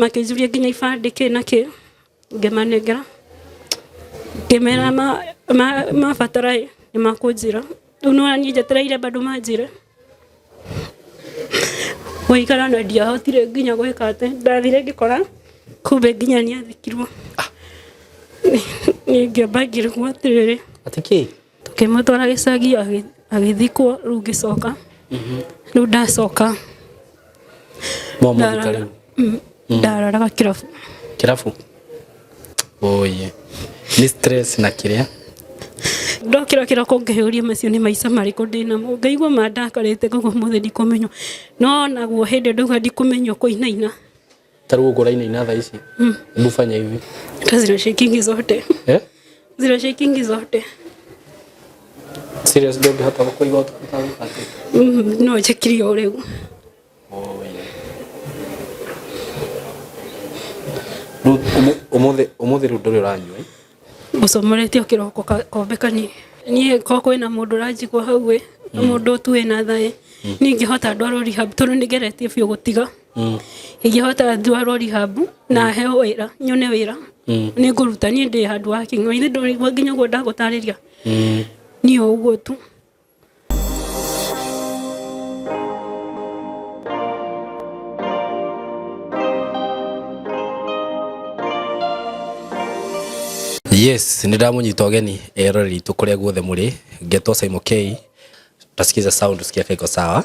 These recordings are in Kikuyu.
makĩnjuria nginya ibandĩ kĩ na kĩ ngĩmanengera ngĩmera mabatara ĩ nĩ makũnjĩra rĩu no niĩ njetereire bado manjĩre gũikara na ndiahotire nginya gwĩka atĩ ndathire ngĩkora kumbe nginya nĩ athikirwo ningĩ bangirwo atĩrĩrĩ atĩ kĩ tũkĩmũtwara gĩcagi agĩ- agĩthikwo rĩu ngĩcoka rĩu ndacoka mwamũthika ndarara- rĩu Mm, ndararaga kĩrabu kĩrabu oye nĩ stress na kĩrĩa ndokĩra kĩroko ngĩyũria macio nĩ maica marĩkũ ndĩ namo ngaigua mandakarĩte ngauga ũmũthĩ ndikũmenywo no naguo hĩndĩ ndauga ndikũmenywo kũinaina Ta rĩu ũkũraina ina thaa ici. Hebu fanya hivi. Hata zina shakingi zote. Eh? Zina shakingi zote. Serious dog hata uko hivyo utakuta mpate. Mm, no chakiri ole. Oh yeah. Rĩu ũmũ- ũmũthĩ ũmũthĩ rĩu ndũrĩ ũranyua. eh? Ũcomoretio kĩroko ka- kombe kanini. Niĩ ko kwĩna mũndũ ũranjigua hau ĩ, mũndũ tu wĩna thaĩ. Niĩ ingĩhota ndwarwo rehab tondũ nĩgeretie biũ gũtiga. mm. ingĩhota ndwarwo rihabu na mm. heo wĩra nyone wĩra mm. nĩ ngũruta niĩ ndĩ handũ wa kĩng'o ithe ndũrĩgua nginya ũguo ndagũtarĩria niĩ ũguo tu yes nä ndamunyita å geni eroreri itå kå rä a guothe må rä ngetwo simon k tasikiza sound tusikia kaiko sawa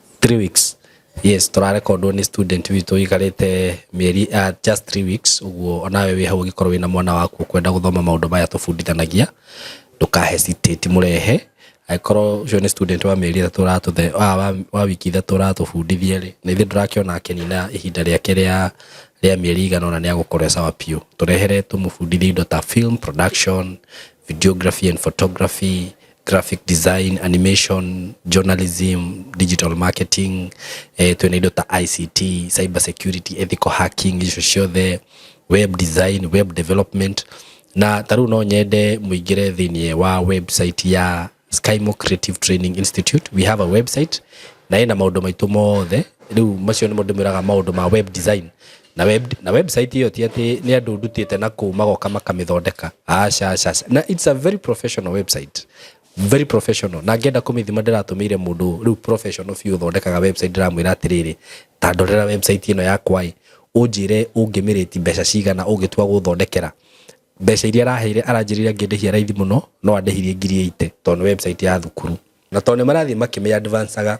three weeks yes tũrarekondwo nĩ student witũ ikarĩte mĩeri uh, just three weeks ũguo onawe wĩ hau ũngĩkorwo wĩna mwana waku kwenda gũthoma maũndũ maya tũbundithanagia ndũka hesitate mũrehe angĩkorwo ũcio nĩ student wa mĩeri ĩtatũ ũratũthe wa, wa, wa wiki ithatũ ũratũbundithia rĩ na ithuĩ ndũrakĩona akenina ihinda rĩake rĩa rĩa mĩeri igana ona nĩ agũkorwo e sawa biũ tũrehere tũmũbundithie indo ta film production videography and photography graphic design animation journalism digital marketing eh, twĩna indo ta ict cyber security ethical hacking icio ciothe web design web development na ta rĩu no nyende mũingĩre thĩinĩ wa website ya skymo creative training institute we have a website na ĩna maũndũ maitũ mothe rĩu macio nĩmo ndĩmwĩraga maũndũ ma web design na, web, na website iyo ti ati ni andu ndutite na kuu magoka makamithondeka aca aca aca. na it's a very professional website very professional na ngenda kumithima ndiratumire mundu riu professional biu thondekaga website ndiramwira atiriri ta ndorera website ino yakwa i unjire ungimiriti mbeca cigana ungitua guthondekera mbeca iria araheire aranjirire ngindihia raithi muno no andihirie ngiri ite tondu website ya thukuru na tondu marathii makimiadvancaga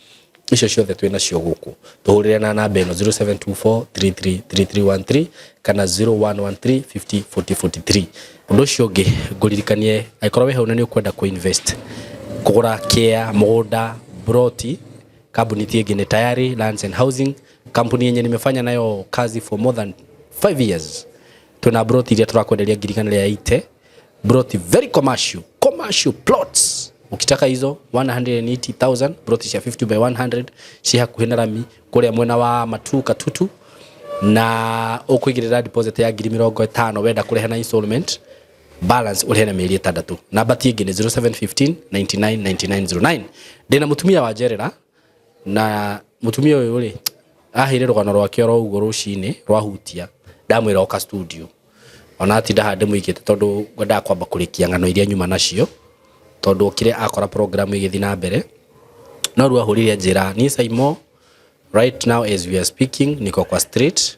icio ciothe twĩ nacio gũkũ tũhũrĩre na namba ĩno 0724333313 kana 0113504043 ũndũ ũcio ũngĩ ngũririkanie angĩkorwo wĩ hau na nĩ ũkwenda kũ invest kũgũra kĩa mũgũnda broti kambuni ti ĩngĩ nĩ tayari lands and housing kampuni yenye nimefanya nayo kazi for more than 5 years twĩna broti iria tũrakwenderia ngiri igana rĩa 80 Broth very commercial, commercial plots. Ukitaka hizo 180,000 broth cia 50 by 100 ci hakuhĩ na rami kũrĩa mwena wa Matu Katutu na ũkũigĩrĩra deposit ya ngiri mĩrongo ĩtano wenda kũrĩha na installment balance ũrĩhe na mĩeri ĩtandatũ namba ti ĩngĩ nĩ 0715 999909 ndĩna mũtumia wa njerera na mutumia uyu ri ahire rugano rwake oro uguo rucini rwahutia ndamwira oka studio ona atinda hande muikite tondu ngwendaga kwamba kurikia ng'ano iria nyuma nacio tondu okire akora program igithi na mbere no riu ahurire njira ni saimo right now as we are speaking niko kwa street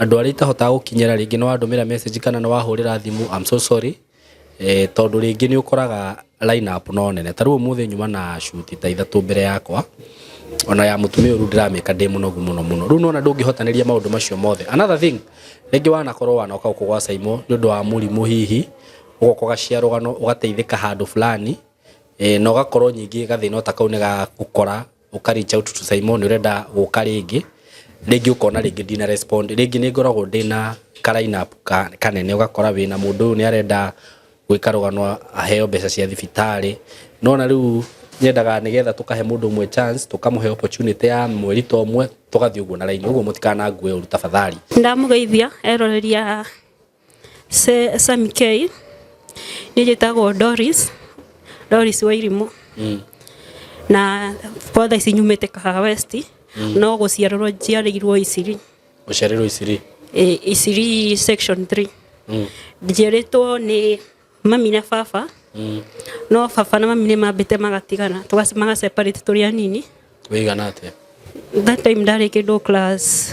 Andũ arĩa itahotaga gũkinyĩra rĩngĩ nĩ wandũmĩra message kana nĩ wahũrĩra thimũ I'm so sorry. Tondũ rĩngĩ nĩ ũkoraga line up no nene. Ta rĩu ũmũthĩ nyuma na shoot ta ithatũ mbere yakwa, ona ya mũtumia ũyũ rĩu ndĩramĩka ndĩ mũnogu mũno mũno. Rĩu nĩ wona ndũngĩhotanĩria maũndũ macio mothe. Another thing, rĩngĩ wanakorwo wanoka gũkũ gwa Saimo nĩ ũndũ wa mũrimũ hihi, ũgoka ũgacia rũgano ũgateithĩka handũ fulani, na ũgakorwo nyingĩ gathĩna o ta kau nĩ gagũkora. ũka reach out to Simon nĩ ũrenda gũka rĩngĩ rĩngĩ ũkona rĩngĩ ndina respond rĩngĩ nĩ ngoragwo ndĩna ka line up ka- kanene ũgakora wĩna mũndũ ũyũ nĩ arenda gwĩka rũgano aheo mbeca cia thibitarĩ nona rĩu nyendaga nĩgetha tũkahe mũndũ ũmwe chance tũkamũhe opportunity ya mweri ta ũmwe tũgathiĩ ũguo na raini ũguo mũtikanangue ũru tafadhali Ndamũgeithia eroreria Sami K, niĩ njĩtagwo Doris, Doris Wairimũ. Mm. Na kwa thaa ici nyumĩte Kahaha West, no gũciarĩrwo njiarĩirwo Isiri. Ũciarĩrwo Isiri. Eh, Isiri section 3. Mm. Njiarĩtwo nĩ mami na baba, Mm. no baba na mami nĩ mambĩte magatigana, tũga- magaseparate tũrĩ anini. Wĩigana atĩa? That time ndarĩ kĩndũ class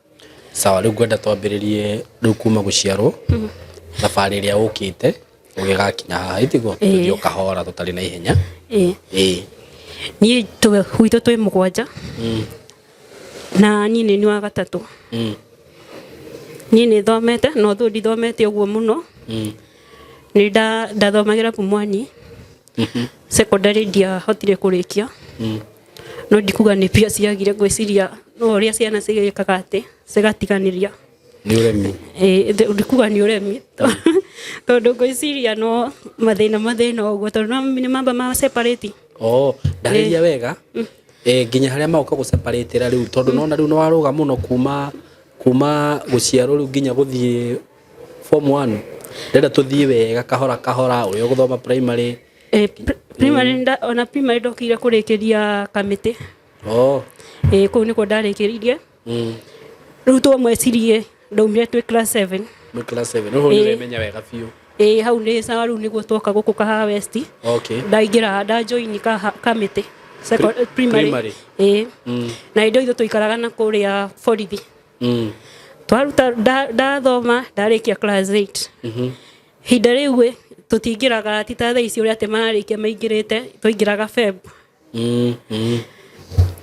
Sawa, rĩu ngwenda twambĩrĩrie rĩu kuma gũciarwo thabarĩ ĩrĩa ũkĩte ũgĩgakinya haha ĩtiguo Ĩĩ. tũthiĩ o kahora tũtarĩ na ihenya ĩĩ ĩĩ niĩ tũ- gwitũ twĩ mũgwanja Mm, na niĩ nĩ nyua gatatũ mm, niĩ nĩ thomete no though ndithomete ũguo mũno mm, nĩ nda- ndathomagĩra pumwani secondary ndiahotire kũrĩkia no ndikuga nĩ pia ciagire ngwĩciria no ũrĩa ciana cigĩkaga atĩ cigatiganĩria nĩ ũremi Eh, th- ndikuga nĩ ũremi tondũ ngwĩciria no mathĩna mathĩna ũguo tondũ no nĩ mamba ma separate oo ndarĩria wega eh, nginya harĩa magoka gũceparĩtĩra rĩu tondũ nona rĩu nĩwarũga mũno kuma kuma gũciarwo rĩu nginya gũthiĩ form 1 ndenda tuthiĩ wega kahora kahora ũrĩa ũgũthoma primary Eh, pri- primary nda- ona primary ndokire kũrĩkĩria kamĩtĩ oh ĩĩ kũu nĩkuo ndarĩkĩririe mm. rĩu twa mwecirie ndaumire twĩ class 7 Nĩ class 7 ũhũ Ĩĩ. nĩũremenya wega biũ ĩĩ hau nĩ sawa rĩu nĩguo twoka gũkũ kahaha west okay ndaingĩra ndajoini kaha- kamĩtĩ Seco- Pri- primary. primary ĩĩ mm. na indo ithu tũikaraga na kũrĩa borithi mm. twaruta nda- ndathoma ndarĩkia class 8 Mhm. hinda rĩu ĩ tũtingĩraga ti ta thaa ici ũrĩa atĩ mararĩkia maingĩrĩte twaingĩraga feb Mm, mm.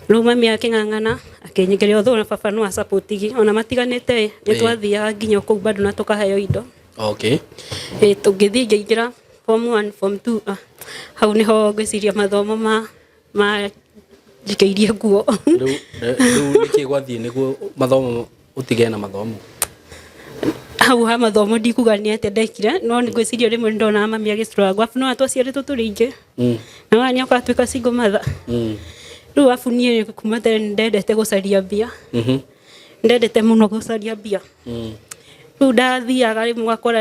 rĩu mami akĩng'ang'ana akĩnyingĩria ũthũ na baba no acapotigi ona matiganĩte ĩ nĩ Ĩĩ. twathiaga nginya kũu bado na tũkaheo indo okay ĩ tũngĩthiĩ ngĩingĩra form 1 form 2 ah, hau nĩho ngwĩciria mathomo ma manjikĩirie nguo Rĩu eh, rĩu nĩkĩ gwathiĩ nĩguo mathomo ũtige na mathomo hau ha mathomo ndikuga nĩ atĩ ndekire no nĩ ngwĩciria rĩmwe nĩ ndonaga mami agĩcuranga abu no atwaciarĩtwo tũrĩ ingĩ Mm, na wani akatuĩka single mother mm, rĩu abu niĩ kuma tene nĩ ndendete gũcaria mbia mhm, ndendete mũno gũcaria mbia mm. rĩu ndathiaga rĩmwe ũgakora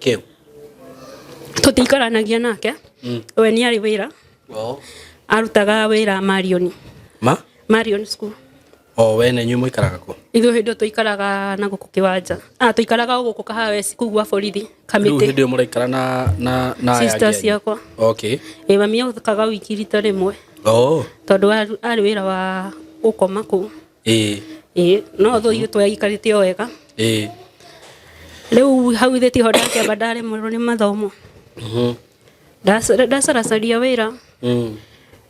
Kĩu. tũtikaranagia nake Mm. we nĩ arĩ wĩra Oo. arutaga wĩra marioni Ma? marion school O we na inyuĩ mũikaraga kũ? ithuĩ hĩndĩ ĩyo tũikaraga na gũkũ kĩwanja ah, tũikaraga o gũkũ kahaweci kuu gwa borithi Rĩu kamĩtĩ hĩndĩ ĩyo mũraikara na na na aya sister angĩ anyu? ciakwa Okay. ĩ mami okaga wiki rita rĩmwe Oo. tondũ arĩ arĩ wĩra wa gũkoma kũu ĩĩ ĩĩ no thũ itũ yaikarĩte o wega ĩĩ rĩu hau thĩ tiho ndakĩamba ndaremerwo nĩ mathomo mhm, Ndaca- ndacaracaria wĩra mm,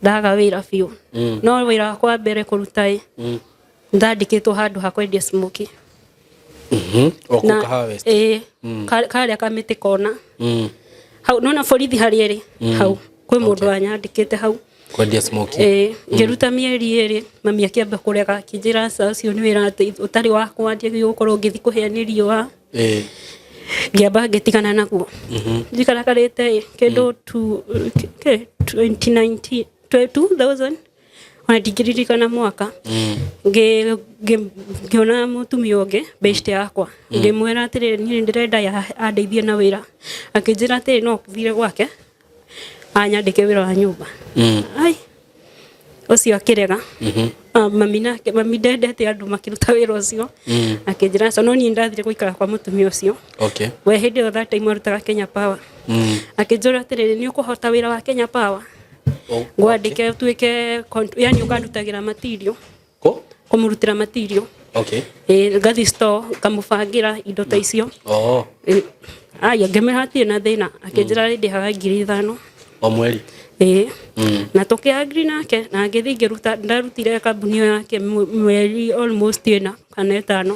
ndaga wĩra biũ mm, no wĩra wakwa wa mbere kũruta ĩ mm, ndandĩkĩtwo handũ ha kwendia smoki Mhm. O kũu Kahawa West. ĩĩ ka- karĩa kamĩtĩ kona Mm. hau nona borithi harĩa ĩrĩ hau kwĩ mũndũ wanyandĩkĩte hau Kwendia smoke. Eh, ngĩruta mĩeri ĩrĩ mami akĩamba kũrega akĩnjĩra "Aca, ũcio nĩ wĩra atĩ ũtarĩ wakwa njagĩrĩirwo gũkorwo ngĩthiĩ kũhĩa nĩ riũa Eh. ngĩamba ngĩtigana naguo njikarakarĩte kĩndũ tu- kĩ- 2019 twe- 2000 ona ndingĩririkana mwaka ngĩ- ngĩ- ngĩona mũtumia ũngĩ best yakwa ngĩmwĩra atĩrĩ niĩ ndĩrenda ya- andeithie na wĩra akĩnjĩra atĩrĩ no thire gwake anyandĩke wĩra wa nyũmba Mm. ai ũcio akĩrega Ah, mami nake mami ndendete andũ makĩruta wĩra ũcio Mm. akĩnjĩra aca no niĩ ndathire gũikara kwa mũtumia ũcio okay we hĩndĩ ĩyo that time arutaga kenya power Mm. akĩnjũra atĩrĩrĩ nĩ ũkũhota wĩra wa kenya power Oh, ngwandike tuike yani ukandutagira material ko kumurutira material okay eh ngathi store ngamubangira indo ta icio oh Eh, aya ngemeha atirĩ na thĩna akĩnjĩra rĩndĩ haga ngiri ithano o mweri ĩĩ Mm. na tũkĩagri nake na ngĩthiĩ ngĩruta ndarutire kambuni ĩyo yake mwe- mweri almost ĩna kana ĩtano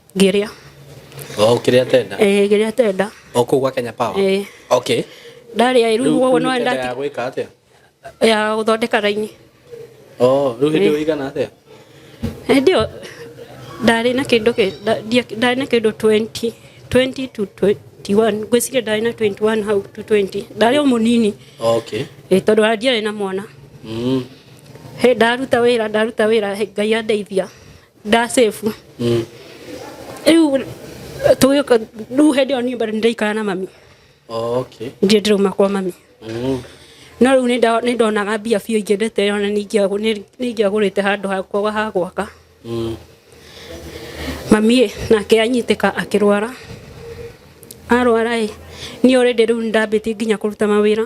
Ngĩrĩa. Oh, ũkĩrĩa tenda? Eh, ngĩrĩa tenda. O kũu gwa Kenya Power? Eh. Okay. Ndarĩa rĩu ũguo no nda. Ya gwĩka atĩa? Ya gũthondeka raini. Oh, rĩu hĩndĩ eh. ĩigana atĩa? Hĩndĩ ĩyo ndarĩ na kĩndũ ndarĩ na kĩndũ 20 20 to 20 21 ngwĩciria ndarĩ na 21 hau to 20 ndarĩ o mũnini okay. e, tondũ ndiarĩ na mwana mm. he ndaruta wĩra ndaruta wĩra ngai andeithia nda safe riu tugika riu hindi iyo nie bado ndiraikara na mami Oh, okay. ndie ndirauma kwa mami Mm. no riu ninda- nindonaga mbia biũ ingĩndete ona ningĩagũrĩte handũ hakwa ha gwaka Mm. mami nake anyitĩka akĩrwara arwara ĩ niĩ already rĩu nĩndambĩtie nginya kũruta mawĩra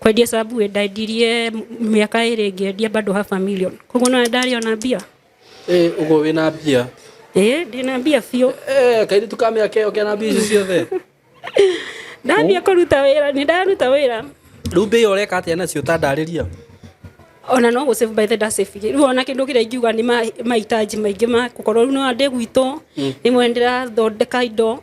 Kwendia Subway ndendirie mĩaka ĩrĩ ngĩendia bado half a million. Koguo no ndarĩ ona mbia. Eh, ugo wina mbia. Eh, ndina mbia biũ. Eh, kairi tukamya keo kena mbia icio ciothe. Ndambia kũruta wĩra, nĩ ndaruta wĩra. Rĩu mbia iyo ũreka atĩa nacio ũtandarĩria? ona no gå save by the da save rä u ona kä ndå kä rä a ingiuga nä mahitaji maingä ma gå korwo rä u no andä gwitå rä mwe ndä rathondeka indo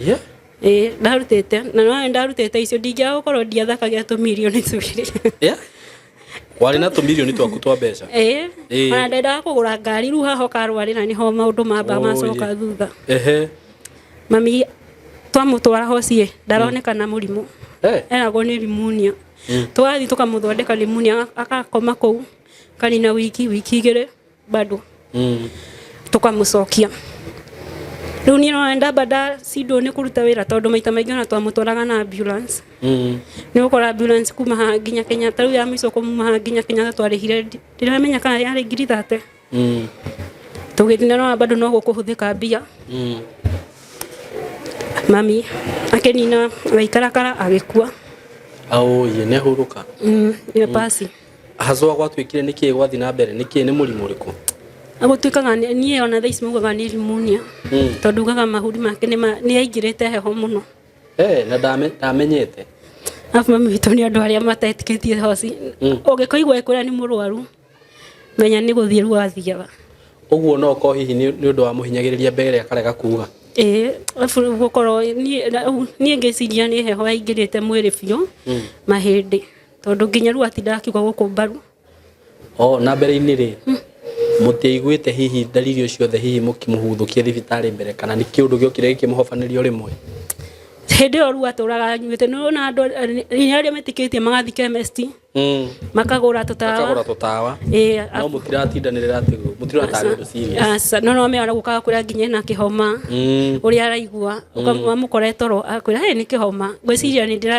Yeah. ĩĩ ndarutĩte na no ndarutĩte icio ndingĩaga gũkorwo ndiathakagia tũmirioni twĩrĩ Yeah. warĩ na tũmirioni twaku twa mbeca ĩĩ Ĩĩ. ona ndendaga kũgũra ngari rĩu haha ũkarwarĩra nĩho maũndũ mamba Oh, macoka yeah. thutha ehe mami twamũtwara hocie ndaronekana mũrimũ Eh. eragwo nĩ rimunia twathiĩ tũkamũthondeka rimunia agakoma kũu kanina wiki wiki igĩrĩ bado Mm. tũkamũcokia rĩu niĩ nona ndamba ndacindwo nĩ kũruta wĩra tondũ maita maingĩ ona twamũtwaraga na ambulance Mm. nä gå kora ambulance kuma ha nginya kenyatta rä u ya mä ico kå muma ha nginya kenyatta twarĩhire ndiramenya kana yarä ngiri thate Mm. tå gä thina nona bado no gå kå hå thä ka mbia Mm. mami akä nina agaikarakara agä kua Aũĩ nĩ ahurũka. nä pasi Hazwa gwatuĩkire nĩ kĩĩ gwathiĩ na mbere nĩ kĩĩ nĩ mũrimũ ũrĩkũ agũtuĩkaga nĩ- niĩ ona thaa ici maugaga nĩ rimunia Mm. tondũ ugaga mahuri make nĩ ma- nĩ aingĩrĩte heho mũno Eh, na ndame- ndamenyete arabu mami witũ nĩ andũ arĩa matetĩkĩtie hoci Mm. ũngĩkoigua ĩkwĩra nĩ mũrwaru menya nĩ gũthiĩ rĩu athiaga ũguo no ko hihi nĩ nĩ ũndũ wa mũhinyagĩrĩria mbere akarega kuga ĩĩ arabu rĩu gũkorwo niĩ- na- u- niĩ ngĩciria nĩ heho yaingĩrĩte mwĩrĩ biũ mahĩndĩ tondå nginya rä u atindaga akiuga gå kå mbaru o na mbere-inĩ rĩ hmm. mũtiaiguĩte hihi dalili o ciothe hihi mũkĩmũhuthũkie thibitarĩ mbere kana nĩ kĩũndũ gĩokire gĩkĩmũhobanĩrio rĩmwe hĩndĩ ĩyo rĩu atũraga anyuĩte nĩ wona andũ inya arĩa metĩkĩtie magathiĩ chemist hmm. makagũra tũtawa no mũtiratindanĩrĩra atĩ mũtirataga ũndũ serious no no mera gũkaga kwĩra nginya na kĩhoma hmm. ũrĩa araigua hmm. ũkamũkora toro akwĩra nĩ kĩhoma ngwĩciria nĩ ndĩra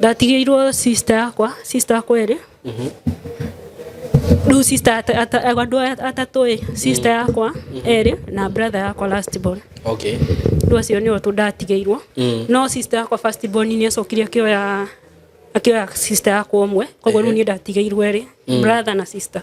ndatigĩirwo sister yakwa sister yakwa ĩrĩ rĩu sister ata- ata- andũ aya atatũ ĩ sister yakwa erĩ na brother yakwa last born okay rĩu acio nĩo tũ ndatigĩirwo Mm. no sister yakwa first born nĩ acokire akĩoya akĩoya sister yakwa ũmwe koguo rĩu niĩ ndatigĩirwo erĩ brother na sister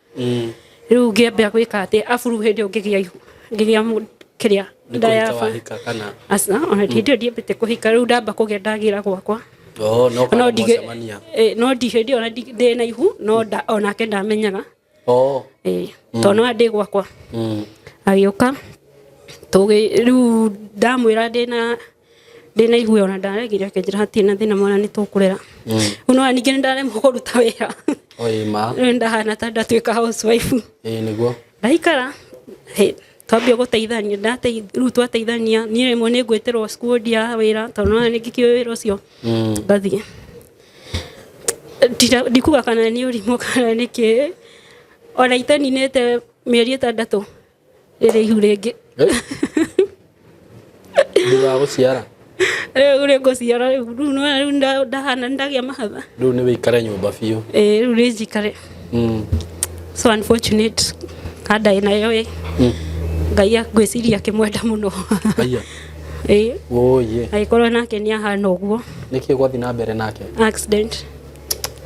rĩu ngĩambia gwĩka atĩ aburu hĩndĩ ũngĩgĩa ihu ngĩgĩa mũndũ kĩrĩa ndayaba aca ona hĩndĩ ĩyo ndiambĩte kũhika rĩu ndamba kũgĩa ndagĩra gwakwa oh, no ndi hĩndĩ ona ndĩ na ihu no onake ndamenyaga oh. mm. tondũ no andĩ gwakwa mm. agĩũka rĩu ndamwĩra ndĩ na ndina igwe ona ndaregire akenjira hatirĩ na thĩna mwana nĩtũkũrera rĩu nona ningĩ nĩndaremwo kũruta wĩra oĩ ma rĩu ndahana ta ndatuĩka housewife ĩĩ nĩguo ndaikara he- twambia gũteithania ndateith- rĩu twateithania niĩ rĩmwe nĩ ngwĩtĩrwo cukuru ndia wĩra tondũ nona nĩ ngĩkĩũĩ wĩra ũcio Mm. ngathiĩ Ndira- ndikuga kana nĩ ũrimũ kana nĩ kĩ ona iteninĩte mĩeri ĩtandatũ rĩrĩ ihu rĩngĩ thutha wa gũciara rĩu rĩ ngũciara rĩu rĩu nĩ rĩu nda- ndahana nĩ ndagĩa mahatha rĩu nĩ wĩikare nyũmba biũ Eh, rĩu rĩ njikare Mm. so unfortunate andaĩ nayo ĩ Mm. ngai a- ngwĩciria akĩmwenda mũno Aiya. Ĩ, Ũũyĩ. agĩkorwo nake nĩ ahana ũguo Nĩkĩ gwathi na mbere nake? accident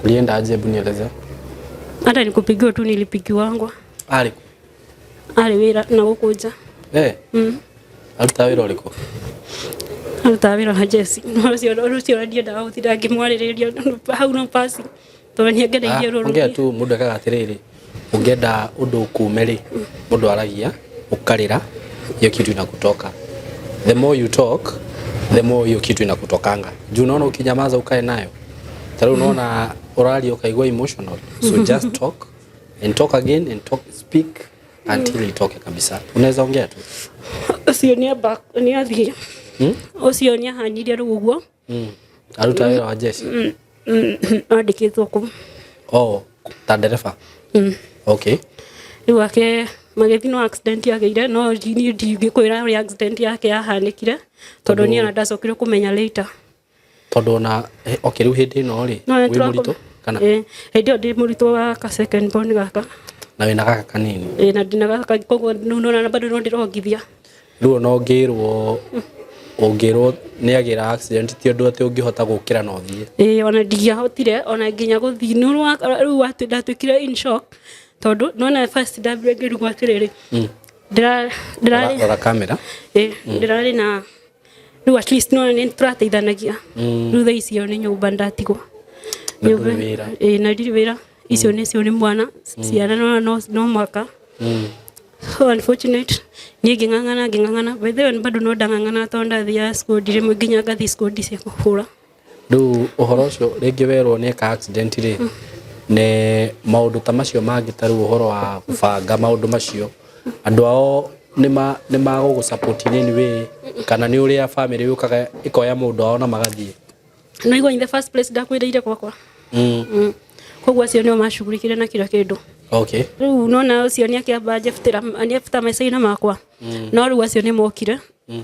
Ulienda aje hebu nieleze. hata nikupigiwa tu nilipigiwangwa Arĩ kũ? arĩ wĩra na gũkũ nja Eh, Mm. arutaga wĩra ũrĩkũ arutaga wĩra na jesi ũcio ũcio ũrĩa ndiendaga gũtinda ngĩmwarĩrĩria no- hau no pasi tondũ nĩ angereirie rũrũ ongea tu mũndũ ekaga atĩrĩrĩ ũngĩenda ũndũ ũkume rĩ mũndũ aragia ũkarĩra hiyo kitu inakutoka the more you talk the more hiyo kitu inakutokanga juu unaona ukinyamaza ukae nayo tarĩu unaona ũraria ũkaigua emotional so just talk and talk again and talk speak until itoke kabisa unaweza ongea tu ũcio nĩ amba nĩ athiĩ hmm? ũcio nĩ ahanyirie rĩu ũguo hmm. aruta wĩra wa jeshi hmm, andĩkĩtwo kũ oh ta ndereba okay rĩu ake magĩthi no accident yageire no ndingĩkwĩra ũrĩa accident yake yahanĩkire tondũ niĩ ona ndacokire kũmenya later Tondũ ona okay rĩu hĩndĩ ĩno rĩ wĩ mũritũ kana eh hĩndĩ ĩyo ndĩ mũritũ wa ka second born gaka na wĩna gaka kanini eh na ndina gaka koguo nona bado no ndĩrongithia rĩu ona ũngĩrwo ũngĩrwo nĩ agĩra accident ti ũndũ atĩ ũngĩhota gũkĩra na ũthiĩ eh ona ndingĩahotire ona nginya gũthiĩ nĩ rĩu ndatuĩkire in shock tondũ nona first ndambire ngĩrigwo atĩrĩrĩ ndĩrarĩ ndĩrarĩ na rĩu at least nona nĩ tũrateithanagia thutha icio nĩ nyũmba ndatigwo Na Nyũmba- ndũrĩ wĩra. ĩĩ, na ndirĩ wĩra icio nĩ cio nĩ mwana ciana nona no- no mwaka Mm. so unfortunate niä ngä ng'ang'ana ngä ng'ang'ana wethe bado no ndang'ang'ana tondå ndathiaga cikundi rä mwe nginya ngathi cikundi cia kå hå ra Rĩu ũhoro ũcio rĩngĩ werwo nĩ eka accident rĩ, nĩ maũndũ ta macio mangĩ ta rĩu ũhoro wa gũbanga maũndũ macio, andũ ao nĩ magũgũ support in any way kana nĩ ũrĩa family yũkaga ĩkoya mũndũ wao na magathiĩ? No you in the first place ndakuĩrĩire gwakwa. Mm. Mm. Koguo acio nĩo macugurikire na kira kĩndũ. Okay. Rĩu nona ũcio nĩ akĩamba anjebutĩra anjebutĩra maica-inĩ makwa. Mm. No rĩu acio nĩ mokire. Mm.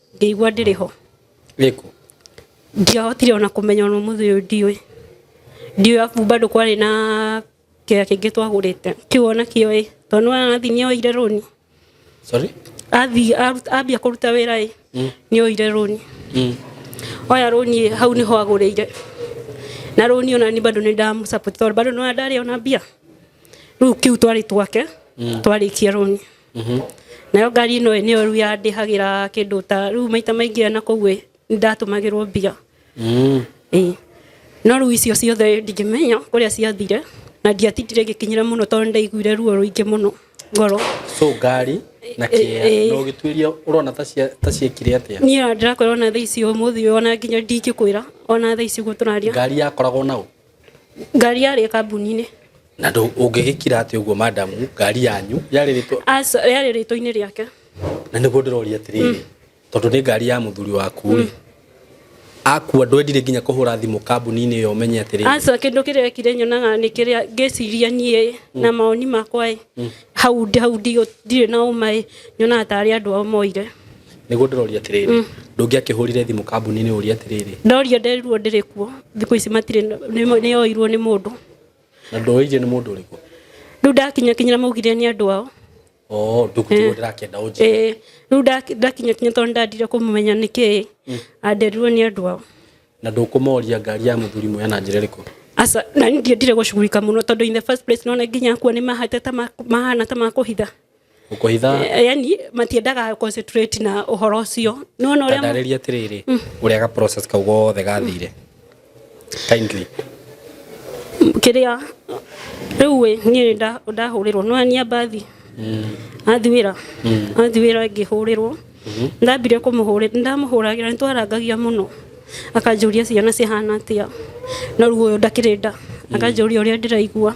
ngĩigua ndĩrĩ ho Ĩkũ? ndiahotire ona kũmenya ona mũthĩ ũyũ ndiũĩ ndiũĩ abu bado kwarĩ na kĩoya kĩngĩ twagũrĩte kĩu ona kĩo ĩ tondũ nĩwona nathi nĩ oire rũni Sorry? athi aru- ambia kũruta wĩra ĩ nĩ oire rũni Mm. oya rũni ĩ, hau nĩho agũrĩire na rũni ona ni bado nĩ ndamũsapoti tondũ bado nĩwona ndarĩ ona mbia rĩu kĩu twarĩ twake twarĩkia rũni Mhm. nayo ngari ino niyo riu yandihagira kindu ta riu maita maingi na kuu ndatumagirwo mbia mm. eh. no riu icio ciothe ndingimenya kuria ciathire na ndiatindire ngikinyira muno tondu ndaiguire ruo ruingi muno ngoro so ngari na eh, kia eh. no gitwiria urona ta cia ta ciekire atia ni ndirakwira ona thaa ici umuthi ona nginya ndingikwira ona thaa ici guturaria ngari yakoragwo nau ngari yarĩ kambuni-inĩ na ndũ- ũngĩgĩkira atĩ ũguo madamu ngari yanyu yarĩ rĩtwa Aca, yarĩ rĩtwa-inĩ rĩake na nĩguo ndĩroria atĩrĩrĩ tondũ nĩ ngari ya mũthuri waku rĩ akua ndwendire nginya kũhũra thimũ kambuni-inĩ ĩyo ũmenye atĩrĩrĩ aca kĩndũ kĩrĩa ekire nyonaga nĩ kĩrĩa ngĩciria niĩ na mawoni makwa ĩ hau ndi- hau ndigũ- ndirĩ na ũma ĩ nyonaga tarĩ andũ ao moire niguo ndiroria atiriri mm. ndungiakihurire thimu kambuni-ini uria atiriri ndorio nderirwo ndiri kuo thiku ici matire niyoirwo ni mundu na ndoire ni mundu uriku riu ndakinya kinyira maugire ni andu ao oh ndukutigwo eh. ndirakienda unjire eh, riu ndakinya kinya tondu ndandire kumumenya niki mm. anderirwo ni andu ao na ndukumoria ngari ya muthuri mwe na njira iriku asa na nindire gucugurika muno tondu in the first place nona nginya kuo ni mahate ta mahana ta makuhitha gũkũhitha Eh, yani matiendaga concentrate na ũhoro ũcio nĩ wona ũrĩa ndarĩria atĩrĩrĩ ũrĩa ga process kau gothe gathire kindly kĩrĩa rĩu ĩ niĩ nda- ndahũrĩrwo nĩwenia mbathi athi wĩra athi wĩra ngĩhũrĩrwo ndambire kũmũhũrĩra ndamũhũragĩra nĩ twarangagia mũno akanjũria ciana cihana atĩa na ruo ũyũ ndakĩrĩ nda akanjũria ũrĩa ndĩraigua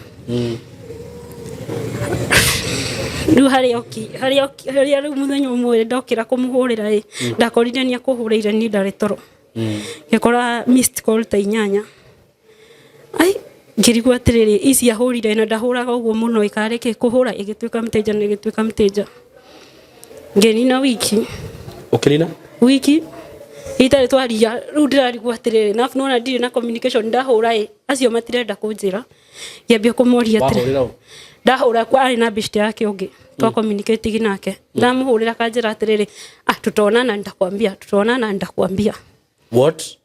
rĩu harĩa oki harĩa oki harĩa rĩu mũthenya ũmwe ndokĩra kũmũhũrĩra ĩ ndakorire nĩ akũhũrĩire niĩ ndarĩ toro ngĩkora missed call ta inyanya ai ngĩrigwo atĩrĩrĩ ici ahũrire na ndahũraga ũguo mũno ikarĩ kĩ kũhũra ĩgĩtuĩka mteja na ĩgĩtuĩka mteja ngĩnina wiki ũkĩnina wiki itarĩ twaria rĩu ndĩrarigwo atĩrĩrĩ na nona ndirĩ na communication ndahũra ĩ acio matirenda kũnjĩra ngĩambia kũmoria atĩrĩrĩ wahũrĩra ũ ndahũra kwa arĩ na bishti yake ũngĩ twa communicating nake ndamũhũrĩra kanjĩra atĩrĩrĩ ah tũtonana nitakwambia tũtonana nitakwambia what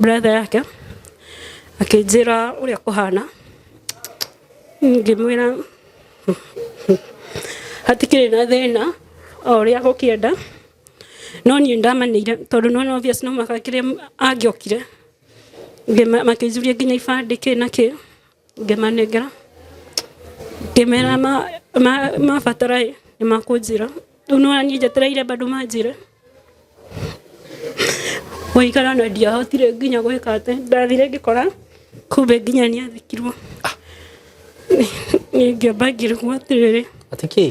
brother yake akĩnjĩra ũrĩa kũhana ngĩmwĩra hatikĩrĩ na thĩna o ũrĩa gũkĩenda no niĩ ndamenyire tondũ no no obvious no mũhaka kĩrĩa angĩokire Ngĩma- makĩnjũria nginya ibandĩ kĩ na kĩ Ngĩmanengera, ngĩmera mabatara ĩ, nĩ makũnjĩra. Rĩu nĩ wona niĩ njetereire bado manjĩre. Gũikara na ndiahotire nginya gwĩka atĩ, ndathire ngĩkora kumbe nginya nĩ athikirwo. Nĩ ngĩamba ngĩrigwo atĩrĩrĩ. Atĩ kĩĩ?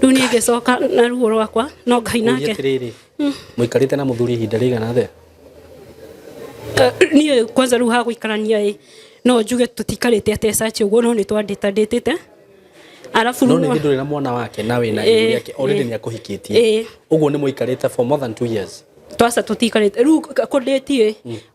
rĩu niĩ ngĩcoka na ruo rwakwa no ngai Ũria nake atĩrĩrĩ mũikarĩte na mũthuri ihinda rĩigana atĩa Eh, niĩ kwanza rĩu ha gũikarania ĩ no njuge tũtikarĩte atĩ caci ũguo no nĩ twandĩta ndĩtĩte arabu no rĩu nĩ no- ndũrĩ na mwana wake na wĩna Ĩĩ, igũrũ yake already ĩĩ. nĩ akũhikĩtie Ĩĩ. ũguo nĩ mũikarĩte for more than two years twaca tũtikarĩte rĩu kũndĩti ĩ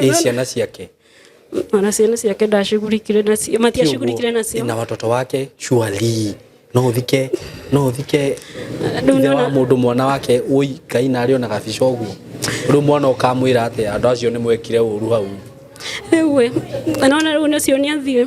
Ĩ ciana ciake ona ciana ciake ndacugurikire nacio matiacugurikire nacio na watoto wake surely no uthike no uthike Rĩu ithe wa nĩwona- mũndũ mwana wake ũi ngai na arĩ ona gabica ũguo rĩu mwana ũkamwĩra atĩ andũ acio nĩ mwekire ũru hau rĩu ĩ nona rĩu nĩcio nĩathiĩ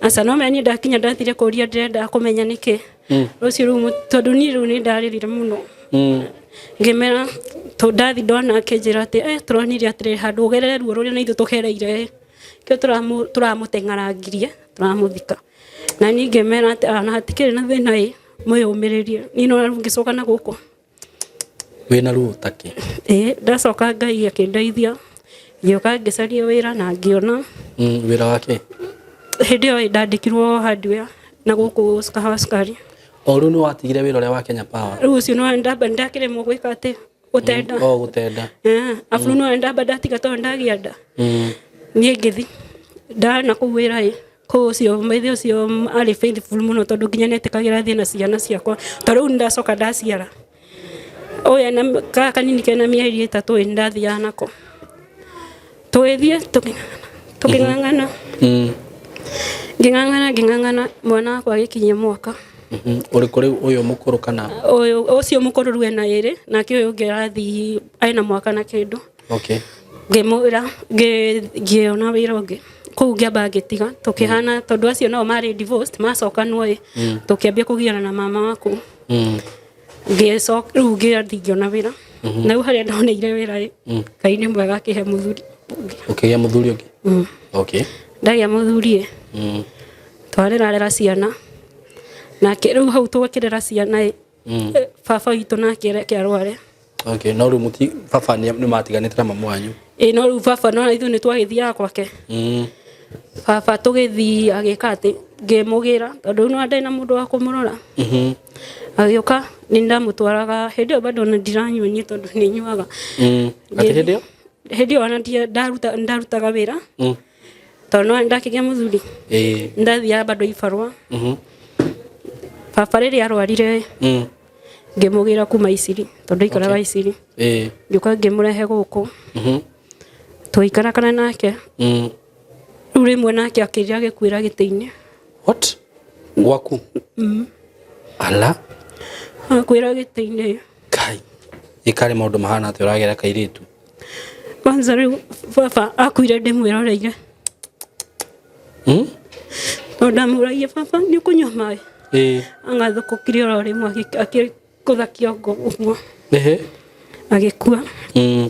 aca no menye ndakinya ndathire kũria ndĩrenda kũmenya nĩkĩ Mm. rũciũ rũu mũ- tondũ niĩ rĩu nĩ ndarĩrire mũno Mm. ngĩmera tondũ ndathi ndona akĩnjĩra atĩ "Eh, tũronire atĩrĩ handũ ũgerere ruo rũrĩa na ithuĩ tũgereire kĩo tũramũ- tũramũteng'arangirie tũramũthika na niĩ ngĩmera atĩ "Ah, na hatikĩrĩ na thĩna ĩ mwĩyũmĩrĩrie niĩ no rĩu ngĩcoka na gũkũ wĩna ruo ta kĩ ĩĩ ndacoka ngai akĩndeithia ngĩũka ngĩcaria wĩra na ngĩona Mm, wĩra wa kĩ hĩndĩ ĩyo ĩ, ndandĩkirwo hardware na gũkũ Sikahawa Sukari o rĩu nĩ watigire wĩra ũrĩa wa kenya power rĩu ũcio nĩ ndamba ndakĩremwo gwĩka atĩ gũtenda o gũtenda Eh, abu nĩ ndamba ndatiga tondũ ndagĩa nda Mm, niĩ ngĩthi ndana kũu wĩra ĩ Kũu ũcio maithe ũcio arĩ faithful mũno tondũ nginya nĩetĩkagĩra thiĩ na ciana ciakwa ta rĩu ndacoka ndaciara ũyũ ena gaka kanini kena mĩeri ĩtatũ ĩ ndathiaga nako tũgĩthiĩ tũkĩng'ang'ana ngĩng'ang'ana ngĩng'ang'ana mwana wakwa agĩkinyia mwaka Mhm. Ũrĩ kũrĩ ũyũ mũkũrũ kana ũyũ ũcio mũkũrũ rĩu ena ĩrĩ nake ũyũ ũngĩ arathiĩ ena mwaka na kĩndũ okay ngĩmwĩra ngĩona wĩra ũngĩ kũu ngĩamba ngĩtiga tũkĩhana mm. tondũ acio nao marĩ divorced macokanwo ĩ mm. tũkĩambia kũgiana na mama waku mm. ngĩcoka rĩu ngĩathi ngĩona wĩra mm-hmm. na rĩu harĩa ndoneire wĩra ĩ ngai nĩ mwega akĩhe mũthuri ũngĩ ũkĩgĩa mũthuri ũngĩ okay ndagĩa mũthuri ĩ twarĩrarera ciana nake rĩu hau tũgakĩrera ciana ĩ Mm. Eh, baba witũ nake reke arware okay no rĩu mũti baba nĩ nĩ matiganĩte na mamu wanyu ĩ no rĩu baba no ithuĩ nĩ twagĩthiaga gwake Mm. baba tũgĩthiĩ agĩka atĩ ngĩmũgĩra tondũ rĩu nĩwandaĩ na mũndũ wa kũmũrora Mhm. agĩũka nĩ ndamũtwaraga hĩndĩ ĩyo bado ona ndiranyua niĩ tondũ nĩ nyuaga Mm. Atĩ hĩndĩ ĩyo? hĩndĩ ĩyo ona ndia- ndaruta- ndarutaga wĩra Mm. tondũ nĩ ndakĩgĩa mũthuri ĩĩ nĩ ndathiaga bado ibarũa mhm baba rĩrĩa arwarire mm ngĩmũgĩra kuma iciri tondũ ikaraga iciri ĩĩ ngĩũka ngĩmũrehe gũkũ mhm tũgĩikarakana nake mm rĩu rĩmwe nake akĩrĩa gĩkuĩra gĩtĩ-inĩ what gwaku ala akuĩra gĩtĩ-inĩ kai ĩkarĩ maũndũ mahana atĩ ũragera kairĩtu kwanza rĩu baba akuire ndĩmwĩroreire Hmm? tondũ ndamũragia baba nĩ ũkũnyua maĩ Eh. agathũkũkire oro rĩmwe agĩ- akĩgũtha kĩongo ũguo Ehe. agĩkua Mm.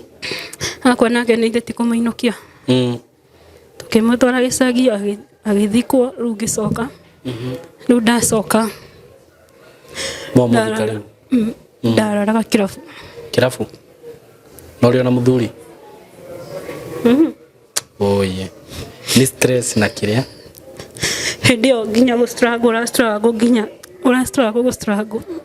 akwa nake nĩ ithĩti kũmũinũkia Mm. Tũkĩmũtwara gĩcagi agĩthikwo rĩu ngĩcoka. Mhm. Rĩu ndacoka mm, ndararaga kĩrabu. Kĩrabu? Na ũrĩ ona mũthuri? Mhm. Oye. Nĩ stress na kĩrĩa? Hĩndĩ ĩyo nginya gũ struggle ũra struggle nginya ũra struggle gũ struggle.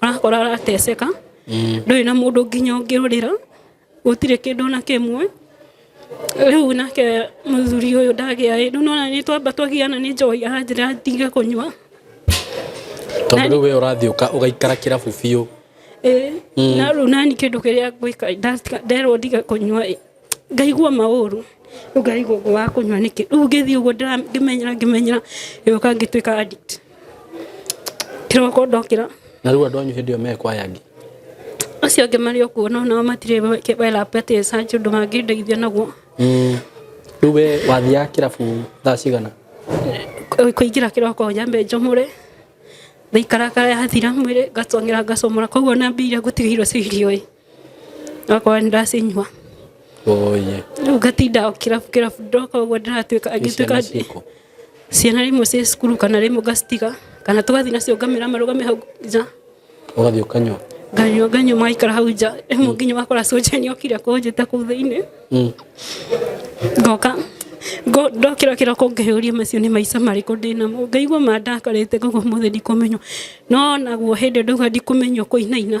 arakora arateceka mm. ndũrĩ na mũndũ nginya ũngĩũrĩra gũtirĩ kĩndũ na kĩmwe rĩu nake mũthuri ũyũ ndagĩa ĩ rĩu nona nĩ twamba twagiana nĩ njohi aranjĩra ndige kũnyua tondũ rĩu we ũrathiĩ ũgaikara kĩrabu biũ mm. na rĩu nani kĩndũ kĩrĩa ngwĩka nderwo ndige kũnyua ĩ ngaigua maũru rĩu ngaigua ũguo wa kũnyua nĩkĩ rĩu ngĩthiĩ ũguo ndĩra- ngĩmenyera ngĩmenyera ngĩũka ngĩtuĩka addict kĩroko ndokĩra na rĩu andũ anyu hĩndĩ ĩyo mekwa yangi acio angĩ marĩ o kuo no nao matirĩ welapete sanjĩ ũndũ mangĩndeithia naguo Mm. rĩu we wathiaga kĩrabu thaa cigana Kũ- kũingĩra kĩroko nyambe njomore ndaikarakara yathira mwĩrĩ ngacongera ngacomora koguo na mbia iria ngũtigĩirwo cia irio ĩ Okorwo ndĩracinyua. Oye. Rĩu ngatinda o kĩrabu kĩrabu ndoka ũguo ndĩratuĩka angĩtuĩka ciana rĩmwe ciĩ cukuru kana rĩmwe ngacitiga kana tũgathiĩ nacio ngamera marũgame hau nja. Ũgathiĩ ũkanyua? Nganyua nganyua magaikara hau nja rĩmwe mm. nginya ũgakora soja nĩ okire kũnjĩta kũu thĩinĩ. Mm. Ngoka ndokĩra kĩroko ngĩyũria macio nĩ maica marĩkũ ndĩ namo ngaigua mandakarĩte koguo ũmũthĩ ndikũmenywo no naguo hĩndĩ ndauga ndikũmenywo kũinaina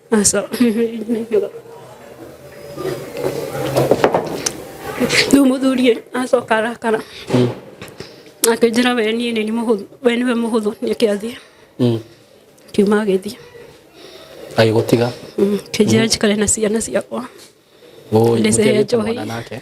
Aso. Rĩu mũthuri ĩ, acoka arakara akĩnjĩra we niĩ nĩ mũhũthũ we nĩwe mũhũthũ nĩke athiĩ Mm. kiuma agĩthiĩ agĩgũtiga Mm, akĩnjĩra njikare na ciana ciakwa Ũũ, Ndĩcehe mũtiagĩte njohi. mwana nake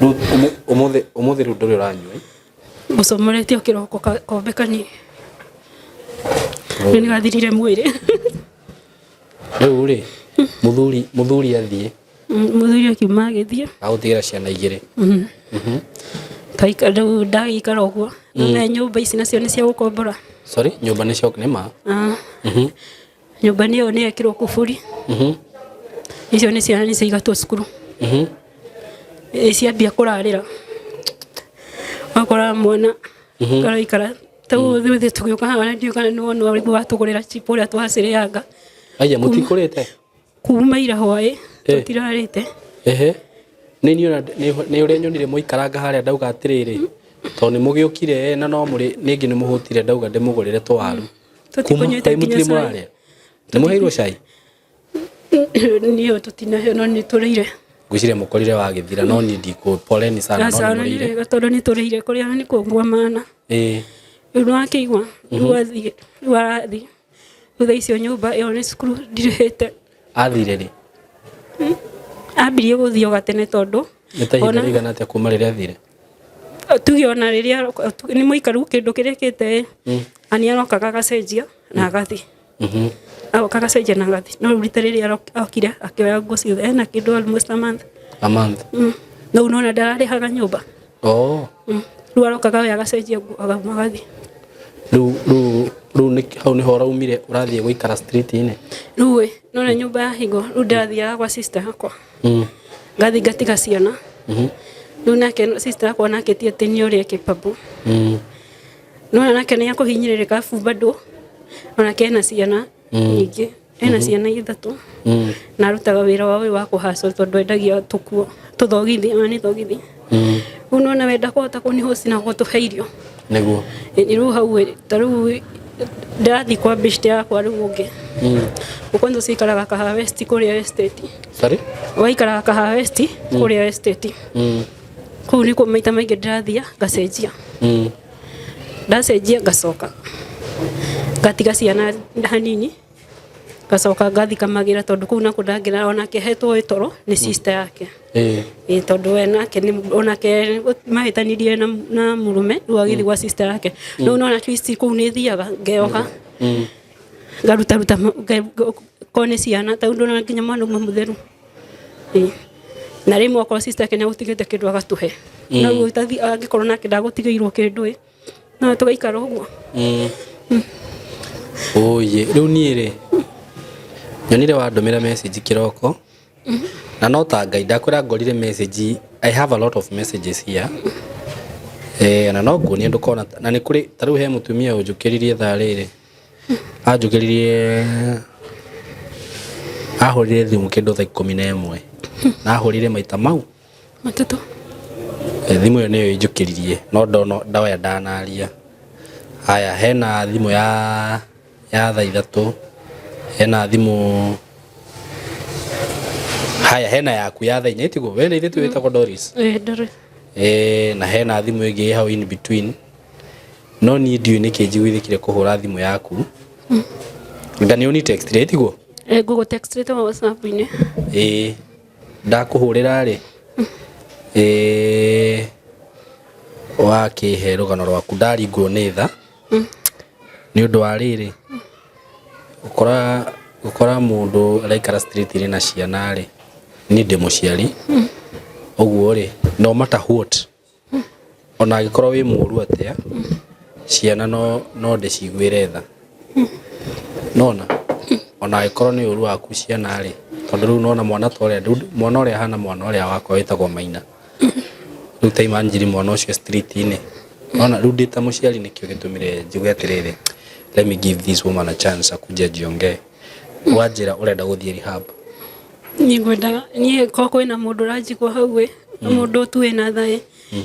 Rĩu ũmũ- ũmũthĩ ũmũthĩ rĩu ndũrĩ ũranyua ĩ? Mũcomorete o kĩroko ka- kombe kanini. Rĩu nĩgathirire mwĩrĩ. rĩu rĩ mũthuri mũthuri athiĩ Mm, Mũthuri akiuma agĩthiĩ. agũtigĩra ciana igĩrĩ Mhm. Mhm. Kaika- rĩu ndagĩikara ũguo. None nyũmba ici nacio nĩ cia gũkombora. sorry nyũmba nĩ cio nĩ ma Ah. Mhm. nyũmba nĩ ĩyo nĩ yekirwo kuburi Mhm. icio nĩ ciana nĩ ciaigatwo cukuru Mhm. Ĩ, ciambia kũrarĩra wakora mwana Mhm. karaikara tau ithuĩ tũgĩũka haha na ndiũĩ kana nĩ wona ũrĩmi watũgũrĩra chipo ũrĩa twacĩrĩanga Aya mũtikũrĩte. kuma ira hwaĩ Eh. tũtirarĩte Ehe. Nĩ niĩ ona- nĩ nĩ ũrĩa nyonire mũikaranga harĩa ndauga atĩrĩrĩ tondũ nĩ mũgĩũkire na no mũrĩ ningĩ nĩ mũhũtire ndauga ndĩmũgũrĩre tũwaru. Tũti Kuma kũnyuĩte thaa imwe nginya tũtirĩ cai. mũrarĩa nĩ mũheirwo cai Niĩ tũtinaheo no nĩ tũrĩire. ngwĩciria mũkorire wagĩthira no niĩ ndikũ poleni sana no Aca nĩ ona nĩ mũrĩire wega tondũ nĩ tũrĩire kũrĩa nĩ kũngua mana. ĩĩ Rĩu nĩ wakĩigua rĩu athiĩ rĩu arathiĩ. Rĩu thaa icio nyũmba ĩyo nĩ cukuru ndirĩhĩte. athire rĩ Ambirie gũthiĩ o gatene tondũ nĩ ta ihinda ona- rĩigana atĩa kuma rĩrĩa athire tuge ona rĩrĩa aroka- tu- nĩ mũikaru kĩndũ kĩrĩa kĩte na nĩ arokaga agacenjia na agathiĩ agoka agacenjia na agathiĩ no rĩu rita rĩrĩa arok- okire akĩoya nguo ciothe ena kĩndũ almost a month a month Mm. no rĩu nona ndararĩhaga nyũmba oh Mm. rĩu arokaga we agacenjia nguo agauma agathiĩ rĩu rĩu rĩu nĩ- hau nĩho ũraumire ũrathiĩ gũikara street-inĩ rĩu ĩ nona nyũmba ya hingo rĩu ndathiaga gwa sister yakwa Mm. Ngathi ngatiga ciana. Mhm. Rĩu nake sister akwa nake ti atĩ nĩ ũrĩa kĩbabu. Mm. No nake nĩ akũhinyĩrĩrĩka abu bado. Onake ena ciana Mm. nyingĩ. Ena Mhm. ciana ithatũ. Mm. Na arutaga wĩra wa ũyũ wa kũhacwo tondũ endagia tũkuo tũthogithi ona nĩ thogithi. rĩu nona wenda kũhota kũnihosi na gũtũhe irio nĩguo Ĩ, rĩu hau ĩ, ta rĩu ndĩrathiĩ kwa bishti yakwa rĩu ũngĩ ũkwanza ũcikaraga kaha westi kũrĩa esteti sorry waikaraga kaha westi kũrĩa esteti Mm, kũu nĩkuo maita maingĩ ndĩrathiĩ ngacenjia mm. ndacenjia ngacoka ngatiga ciana hanini ngacoka ngathikamagĩra tondũ kũu nakuo ndangĩra onake hetwo ĩ toro nĩ sister yake Eh, ĩ tondũ we nake nĩ- onake mahĩtanirie na, na mũrũme rĩu agĩthiĩ gwa sister yake rĩu no na twist kũu nĩ thiaga ngeoka mm, ngarutaruta ma- nge- nge- korwo nĩ ciana tau ndona nginya mwana uma mũtheru Ĩ. na rĩmwe okorwo sister yake nĩ agũtigĩte kĩndũ agatũhe Mm. na ũguo angĩkorwo nake ndagũtigĩirwo kĩndũ ĩ na tugaikara uguo Oye, rĩu niĩ rĩ nyonire wandũmĩra message kĩroko na no ta ngai ndakwĩra ngorire message I have a lot of messages here eh, na no nguonie ndũkona na nĩ kũrĩ ta rĩu he mũtumia ũnjũkĩririe thaa rĩrĩ anjũkĩririe ahũrire thimũ kĩndũ thaa ikũmi na ĩmwe na ahũrire maita mau Matatũ. Eh, thimũ ĩyo nĩyo ĩnjũkĩririe no ndono ndoya ndanaria haya hena thimũ ya ya thaa ithatũ hena thimũ haya hena yaku ya thaa inya itigo we nĩ ithetũ wĩtagwo doris Eh, Doris. eh, na hena thimũ ĩngĩ ĩ hau in between no niĩ ndiũĩ nĩkĩ njiguithĩkire kũhũra thimũ yaku nga nĩ ũni text rĩtiguo Eh, Google text rĩtagwo WhatsApp-inĩ. ĩĩ ndakũhũrĩra rĩ eh, wakĩhe rũgano rwaku ndaringwo nĩ tha nĩ ũndũ wa rĩrĩ gũkora gũkora mũndũ araikara street rĩ na ciana rĩ niĩ ndĩ mũciari ũguo rĩ no matter what ona angĩkorwo wĩ mũru atĩa ciana no no ndĩciguĩre tha nona ona angĩkorwo nĩ ũru waku ciana rĩ tondũ rĩu nona mwana ta ũrĩa rĩu mwana ũrĩa ahana mwana ũrĩa wakwa wĩtagwo maina rĩu ta imagine mwana ũcio street-inĩ nona rĩu ndĩ ta mũciari nĩkĩo gĩtũmire njuge atĩrĩrĩ let me give this woman a chance akuje njiongee wanjĩra ũrenda gũthiĩ rehab niĩ ngwendaga niĩ ko kwĩna mũndũ ũranjigua hau ĩ na mũndũ tu wĩna thaĩ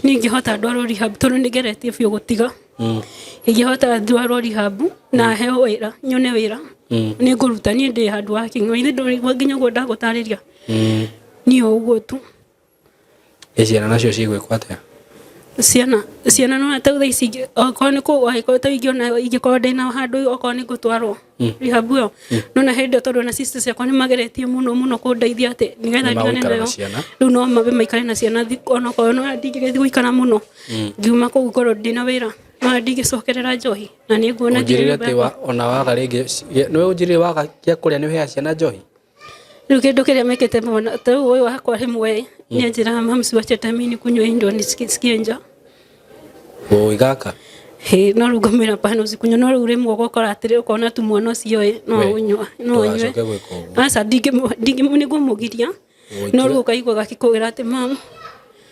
niĩ ingĩhota ndwarwo rehab tondũ nĩ ngeretie biũ gũtiga Mm, ingĩhota ndwarwo rehab na heo wĩra nyone wĩra mm, nĩ ngũruta niĩ ndĩ handũ wa king'o ithe ndũrigua nginya ũguo ndagũtarĩria mm. niĩ o ũguo tu Ciana nacio cigwĩkwo atĩa? Ciana ciana no ta thaa ici ingĩ- okorwo nĩ kũgwa angĩkorwo ta ingĩona ingĩkorwo ndĩna handũ okorwo nĩ ngũtwarwo rehab ĩyo no na hĩndĩ ĩyo tondũ ona sister ciakwa nĩ mageretie mũno mũno kũndeithia atĩ nĩgetha Nĩ ndigane magũikara na nayo ciana. rĩu no mabe maikare na ciana thi- ona okorwo no ndingĩgĩthiĩ gũikara mũno ngiuma kũu ngorwo ndĩna wĩra no ndingĩcokerera njohi na nĩ nguona nginya ũnjĩrĩre nyũmba atĩ yakwa- wa- ona waga rĩngĩ nĩ ũnjĩrĩre waga gĩa kũrĩa nĩ ũheaga ciana njohi Rĩu kĩndũ kĩrĩa mekĩte mwana ta rĩu ũyũ wakwa rĩmwe nĩ anjĩraga mams wacha hata mimi nikunywe hii ndio nisikie nisikie njaa Boy gaka. Hĩ, no rĩu ngamwĩra pana ũcikunywa no rĩu rĩmwe ũgokora atĩrĩ ũkona tu mwana ũcio ĩ no We, ũnywa no ũnywe ndũgacoke gwĩka ũguo. aca ndingĩmũ- ndingĩmũ- nĩngũmũgiria no rĩu ũkaigua gakĩkũgĩra atĩ mam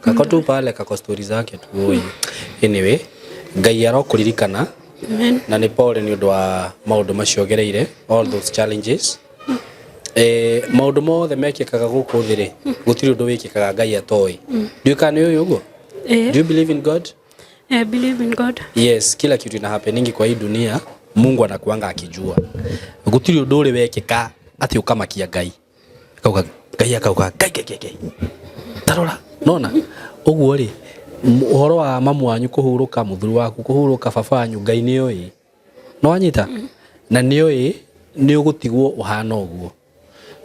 kako tu pale kako stori zake tu oi anyway ngai arokũririkana Amen. na nĩ pole nĩ ũndũ wa maũndũ macio gereire all those challenges Eh, maũndũ mothe mekĩkaga gũkũ thĩ rĩ gũtirĩ ũndũ wĩkĩkaga ngai atoĩ ndiũĩ kana nĩ ũyũ ũguo Eh, do you believe in god I believe in God. yes kila kitu ina happeningi kwa hii dunia mungu anakuanga akijua gutiri undu uri wekika ati ukamakia ngai kauga ngai akauga ngai ngai ngai ngai tarora nona uguo ri uhoro wa mamu wanyu kuhuruka muthuri waku kuhuruka baba wanyu ngai ni oi no anyita na ni oi ni ugutigwo uhana uguo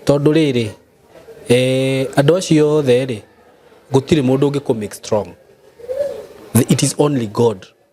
tondu riri eh andu acio othe ri gutiri mundu ungiku make strong it is only god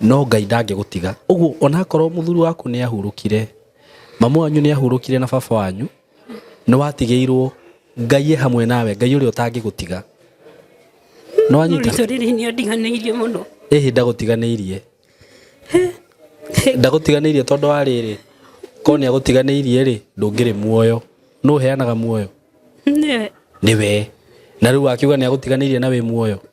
no Ngai ndangĩgũtiga. Ũguo onakorwo mũthuri waku nĩ ahurũkire, mami wanyu nĩ ahurũkire na baba wanyu, nĩ watigĩirwo Ngai e hamwe nawe, Ngai ũrĩa ũtangĩgũtiga. Nĩ wanyita? Mũritũ rĩrĩ nĩ andiganĩirie mũno. Ĩhĩ ndagũtiganĩirie. Ndagũtiganĩirie tondũ wa rĩrĩ, korwo nĩ agũtiganĩirie rĩ, ndũngĩrĩ muoyo. Nũ ũheanaga muoyo? Nĩwe. Nĩwe. Na rĩu akiuga nĩ agũtiganĩirie na wĩ muoyo?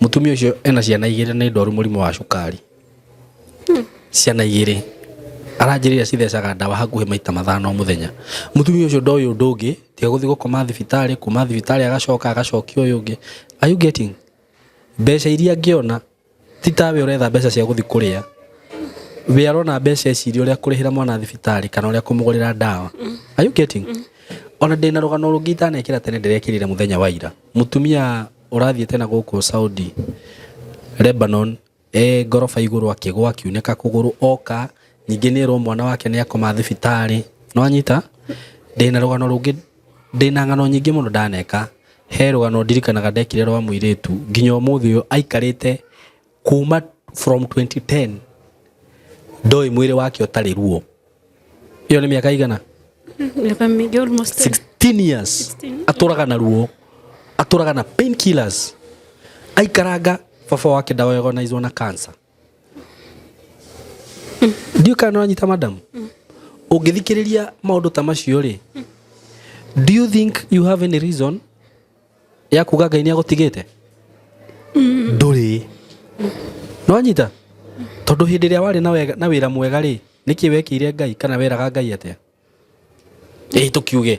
Mũtumia ũcio ena ciana igĩrĩ na nĩ ndwaru mũrimũ wa cukari. Ciana igĩrĩ. Aranjĩrĩria cithecaga ndawa hakuhĩ maita mathano o mũthenya. Mũtumia ũcio ndoĩ ũndũ ũngĩ tiga gũthiĩ gũkoma thibitarĩ, kuma thibitarĩ agacoka agacokio ũyũ ũngĩ. Are you getting? Mbeca iria angĩona... Ti tawe ũretha mbeca cia gũthiĩ kũrĩa, we arona mbeca ici iria ũrĩa kũrĩhĩra mwana thibitarĩ kana ũrĩa kũmũgũrĩra ndawa. Are you getting? Ona ndĩ na rũgano rũngĩ itanekĩra tene ndĩrekĩrire mũthenya wa ira. Mũtumia ũrathiĩte na gũkũ Saudi, Lebanon, e ngoroba igũrũ akĩgwa akiunĩka kũgũrũ oka, ningĩ nĩ erwo mwana wake nĩ akoma thibitarĩ. Nĩ wanyita? Ndĩ na rũgano rũngĩ Ndĩ na ng'ano nyingĩ mũno ndaneka. He rũgano ndirikanaga ndekire rwa mũirĩtu nginya ũmũthĩ ũyũ aikarĩte kuma from 2010 ndoĩ mwĩrĩ wake ũtarĩ ruo. Ĩyo nĩ mĩaka ĩigana? Mĩaka mĩingĩ almost 10. 16 years. 16. Atũraga na ruo. Atũraga na painkillers. Aikaranga baba wake ndaoyagwo na cancer. ndiũ kana nĩ wanyita madam ũngĩthikĩrĩria maũndũ ta macio rĩ do you think you have any reason ya kuga ngai nĩ agũtigĩte ndũrĩ nĩ wanyita tondũ hĩndĩ ĩrĩa warĩ na wega- na wĩra mwega rĩ nĩkĩ wekĩire ngai kana weraga ngai atĩa Ĩĩ tũkiuge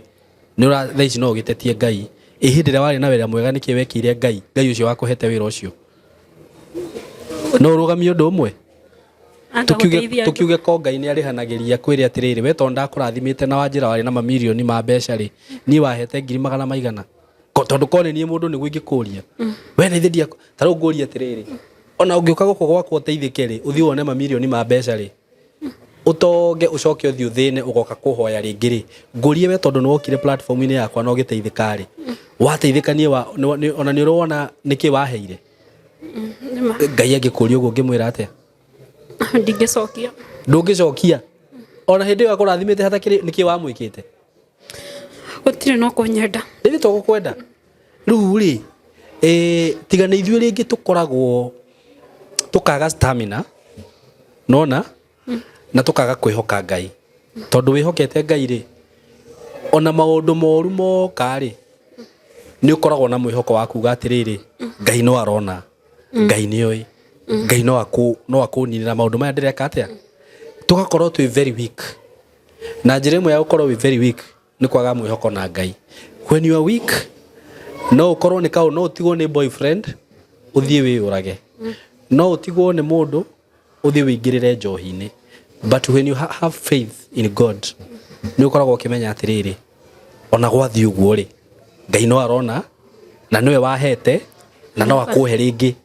nĩ ũra thaa ici no ũgĩtetie Ngai, ĩ hĩndĩ ĩrĩa warĩ na wĩra mwega nĩkĩ wekĩire Ngai, Ngai ũcio wakũhete wĩra ũcio? No ũrũgamie ũndũ ũmwe? Anga Tũkiuge gũteithia andũ. tũkiuge ko Ngai nĩ arĩhanagĩria kwĩrĩ atĩrĩrĩ, we tondũ ndakũrathimĩte na wanjĩra warĩ na mamirioni ma mbeca rĩ, niĩ wahete ngiri magana maigana? Ko- Tondũ ko nĩ niĩ mũndũ nĩguo ingĩkũria. We nĩ ithe ndiakũ- ta rĩu ngũrie atĩrĩrĩ, ona ũngĩũka gũkũ gwakwa ũteithĩke rĩ, ũthiĩ wone mamirioni ma mbeca rĩ, ũtonge ũcoke ũthiĩ ũthĩne ũgoka kũhoya rĩngĩ rĩ ngũrie we tondũ nĩwokire platform-inĩ yakwa na ũgĩteithĩka rĩ wateithĩka niĩ wa- nĩ- nĩ- ona nĩ ũrona nĩkĩ waheire nĩma ngai angĩkũria ũguo ngĩmwĩra atĩa ndingĩcokia ndũngĩcokia ona hĩndĩ ĩyo akũrathimĩte hatakĩrĩ nĩkĩ wamwĩkĩte gũtirĩ no kũnyenda rĩrĩ to gũkwenda Rĩu rĩ, eh, tiga nĩ ithuĩ rĩngĩ tũkoragwo tũkaga stamina nona na tũkaga kwĩhoka ngai tondũ wĩhokete ngai rĩ ona maũndũ moru moka rĩ nĩ ũkoragwo na mwĩhoko wa kuga atĩrĩrĩ ngai no arona ngai nĩ oĩ ngai no akũ- no akũninĩra maũndũ maya ndĩreka atĩa tũgakorwo twĩ very weak na njĩra ĩmwe ya gũkorwo wĩ very weak nĩ kwaga mwĩhoko na ngai when you are weak no ũkorwo nĩ kaũ no ũtigwo nĩ boyfriend ũthiĩ wĩyũrage no ũtigwo nĩ mũndũ ũthiĩ wĩingĩrĩre njohi-inĩ but when you ha- have faith in god nĩ ũkoragwo ũkĩmenya atĩrĩrĩ ona gwathiĩ ũguo rĩ ngai no arona na nĩwe wahete na no akũhe rĩngĩ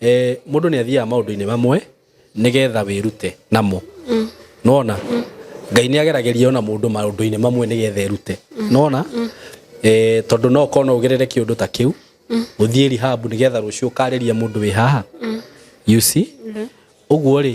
Eh, mũndũ nĩ athiaga maũndũ-inĩ mamwe nĩgetha wĩrute namo nona ngai nĩ ageragĩria ona mũndũ maũndũ-inĩ mamwe nĩgetha erute nona eh, tondũ no ũkorwo no ũgerere kĩũndũ ta kĩu ũthiĩ rihabu nĩgetha rũciũ ũkarĩria mũndũ wĩ haha you see ũguo rĩ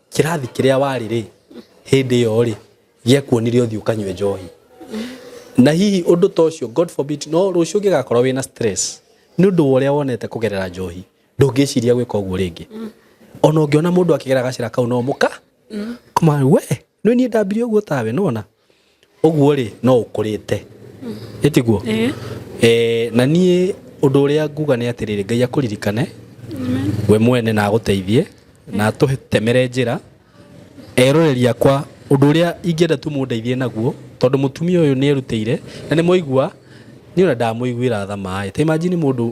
kĩrathi kĩrĩa warĩ rĩ hĩndĩ ĩyo rĩ gĩakuonire ũthiĩ ũkanyue njohi na hihi ũndũ ta ũcio god forbid no rũciũ ũngĩgakorwo wĩna stress nĩ ũndũ wa ũrĩa wonete kũgerera njohi ndũngĩciria gwĩka ũguo rĩngĩ ona ũngĩona mũndũ akĩgera gacĩra kau no mũka kũma we nĩ niĩ ndambire ũguo tawe nona ũguo-rĩ no ũkũrĩte ĩ tiguo eh, na niĩ ũndũ ũrĩa nguga nĩ atĩrĩrĩ ngai akũririkane we mwene na agũteithie na atũtemere njĩra eroreri akwa ũndũ ũrĩa ingĩenda tu mũndeithie naguo tondũ mũtumia ũyũ nĩ erutĩire na nĩ mwaigua niĩ ona ndamũiguĩra tha maĩ ta imagine mũndũ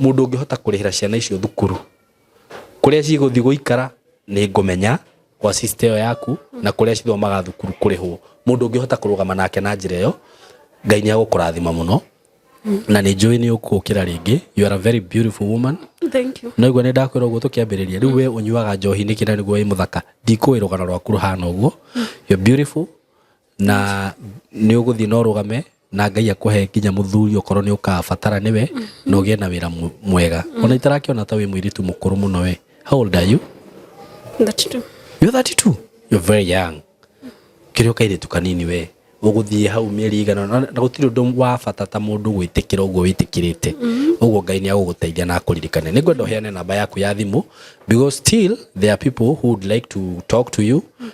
mũndũ ũngĩhota kũrĩhĩra ciana icio thukuru kũrĩa cigũthiĩ gũikara nĩ ngũmenya kwa sister ĩyo yaku na kũrĩa cithomaga thukuru kũrĩhwo mũndũ ũngĩhota kũrũgama nake na njĩra ĩyo ngai nĩ agũkũrathima mũno na nĩ njũĩ nĩ ũkũkĩra rĩngĩ you are a very beautiful woman Thank you. no igua nĩ ndakwĩra ũguo tũkĩambĩrĩria rĩu we ũnyuaga njohi nĩkĩ na nĩguo wĩ mũthaka ndikũĩ rũgano rwaku rũhana ũguo you're beautiful na nä å gå thiä na å rå game na ngai akåhe nginya må thuri å korwo nä å kabatara nä we na å gä e na wä ra mwega ona itarakä ona ta wä mwä rä tu må kå rå må no we how old are you That too. You're 32. You're very young. Kĩrĩa ũkairĩtu kanini we ũgũthiĩ hau mĩeri igana ũna, na gũtirĩ ũndũ wa bata ta mũndũ gwĩtĩkĩra ũguo wĩtĩkĩrĩte ũguo ngai nĩ agũgũteithia na akũririkane nĩ ngwenda ũheane namba yaku ya thimũ because still there are people who would like to talk to you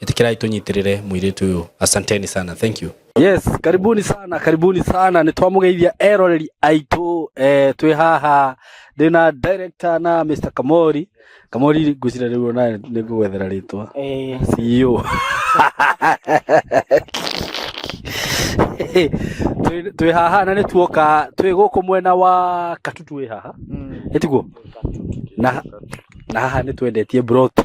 itikirai tunyitĩrĩre mũirĩtu ũyũ asanteni sana thank you Yes, karibuni sana, karibuni sana. Nĩ twamũgeithia eroreri aitũ eh, twĩ haha ndĩna director na Mr. Kamori. Kamori ngwĩcira rĩu ona nĩ ngũgwethera rĩtwa. Eh, CEO. Twĩ- twĩ haha na nĩ tuoka twĩ gũkũ mwena wa Katutu wĩ haha mm, ĩtiguo na, na haha nĩ twendetie broti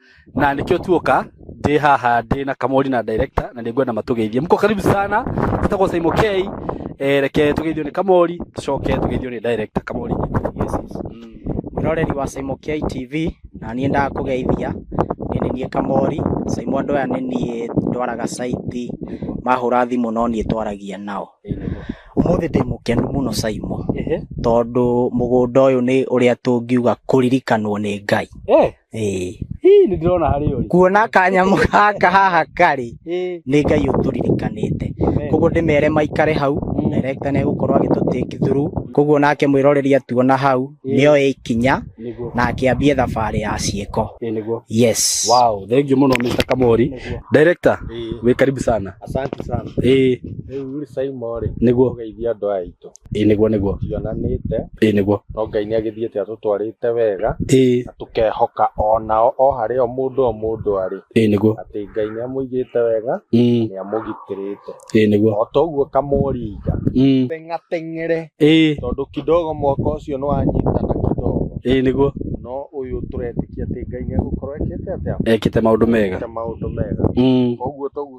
na nikio tuoka ndi haha ndi na kamori na director na ningwenda matugeithie mko karibu sana tutagwo Simon K eh reke tugeithio ni kamori tucoke tugeithio ni director kamori yes yes mm. mwiroreri wa Simon K TV na niĩ ndakũgeithia nĩ nĩ niĩ Kamori Simon andũ aya nĩ niĩ ndwaraga caiti mahũra thimũ no niĩ twaragia nao ũmũthĩ ndĩ mũkenu mũno Simon ehe tondũ mũgũnda ũyũ nĩ ũrĩa tũngiuga kũririkanwo nĩ Ngai eh Ĩĩ. Hii nĩ ndĩrona harĩ ũrĩ. kuona kanyamũ gaka haha karĩ Ĩĩ. nĩ ngai ũtũririkanĩte Amen. koguo ndĩmere maikare hau Mm. director nĩ egũkorwo agĩtũtĩki thuru koguo nake mwĩroreri atuona hau Mm. nĩ oe ikinya Nĩguo. na akĩambie thabarĩ ya ciĩko Ĩĩ nĩguo. yes Wow, thank you mũno Mr. Kamori. Nĩguo. Director, Ĩĩ. wĩ karibu sana. Asante sana. Ĩĩ, Rĩu rĩ Saimo rĩ. Nĩguo. Ũgeithia andũ aya aitũ. ĩĩ nĩguo nĩguo tionanĩte ĩĩ nĩguo no ngai nĩ agĩthiĩte atũtwarĩte wega ĩĩ na tũkehoka onao o harĩ o mũndũ o mũndũ arĩ ĩĩ nĩguo atĩ ngai nĩ amũigĩte wega Mm, nĩ amũgitĩrĩte ĩĩ nĩguo o toguo kamũringa Mm, teng'ateng'ere ĩĩ tondũ kidogo mwaka ũcio nĩ wanyitana kidogo ĩĩ nĩguo no ũyũ tũretĩkia atĩ ngai nĩ agũkorwo ekĩte atĩa ekĩte maũndũ mega Ekĩte maũndũ mega Mm. koguo toguo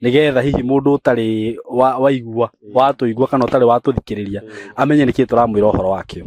nigetha hihi mundu utari wa- waigua watũigua kana ũtarĩ watũthikĩrĩria amenye nĩkĩ tũramwĩra ũhoro wakĩo